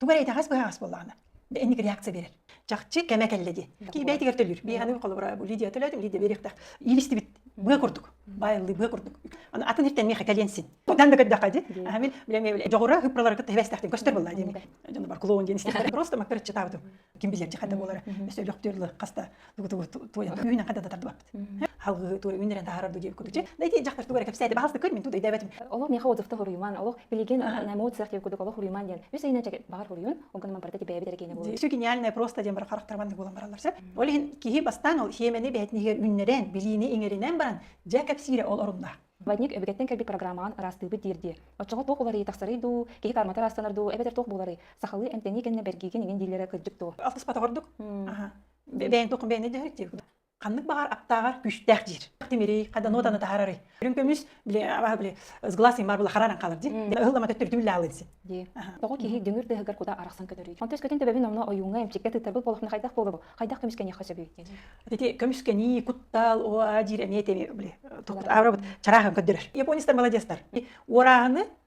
Тугу эрэ итэҕэс быһаҕас буоллаҕына, инник реакция берер. Чахчы кэмэ кэллэ дии. Кии бэйэтигэр төлүүр. Биһигини холобура бу Лидия төлөөт, Лидия бериэхтээх. Иилистибит быа курдук. Баайыллыы быа курдук. Аны атын иртэнмиэхэ кэлиэн син. Тоттан да көрдөххө дии. Аһамил, билем дьоҕура хыппаларга тэбэстэхтин көстөр болла дии. Дьон бар клоун диэн истэхтэр. Просто мактар читабытым. Ким билер хата болара. Сөйлөктөр хаста түүнэн хата да тардыбаппыт халгы туой үүнэрэн таһарар дуу диэбит курдук да ити дьахтар тугу эрэ кэпсээти баһаста көрмин тугу дэйдэбэтим олох миэхэ отзывта хоруйуман олох билигин эмоциях диэбит курдук олох хоруйуман диэн үс айына чэкет баҕар хоруйун онгонуман барыта тибээбит эркиэнэ буолуо еще гениальное просто диэн бар харахтарман буолан бараллар сөп ол иһин киһи бастаан ол хиэмэни бэһэтниһигэр үүннэрэн билиини иҥэринэн баран дьэ кэпсиирэ ол оруннаах Вадник өбүгеттен кэлбит программаҕан ыраастыыбыт диирдиэ. Оччоҕо туох уларыйы тахсарый дуу, киһи кармата аастанар дуу, эбэтэр туох буоларый? Сахалыы эмтэнии кэннэ бэргиигин иҥин дииллэрэ кырдьык дуу? Алтыспата ордук. бэйэҥ туох бэйэни дьэһэр диир ханнык баҕар аптааҕар күүстээх диир тимирий хаданы отаны таһаарарый үрүҥ көмүс били абаһа били с глаз имар була харааран хаалар дии ыһыл ама төттөрдүү лаалы дии дии тоҕо киһи дүҥүр дыһыгар кута арахсан көтөрүй онтон өскөтүн төбөбүн онно ойууҥҥа эмчиккэ тыттарбыт болохна хайдах буолар бу хайдах көмүскэниэххэ сөбүй диэн ити көмүскэнии куттал оо диир эмиэ теми били аврабыт чараахан көттөрөр японецтар маладецтар уорааһыны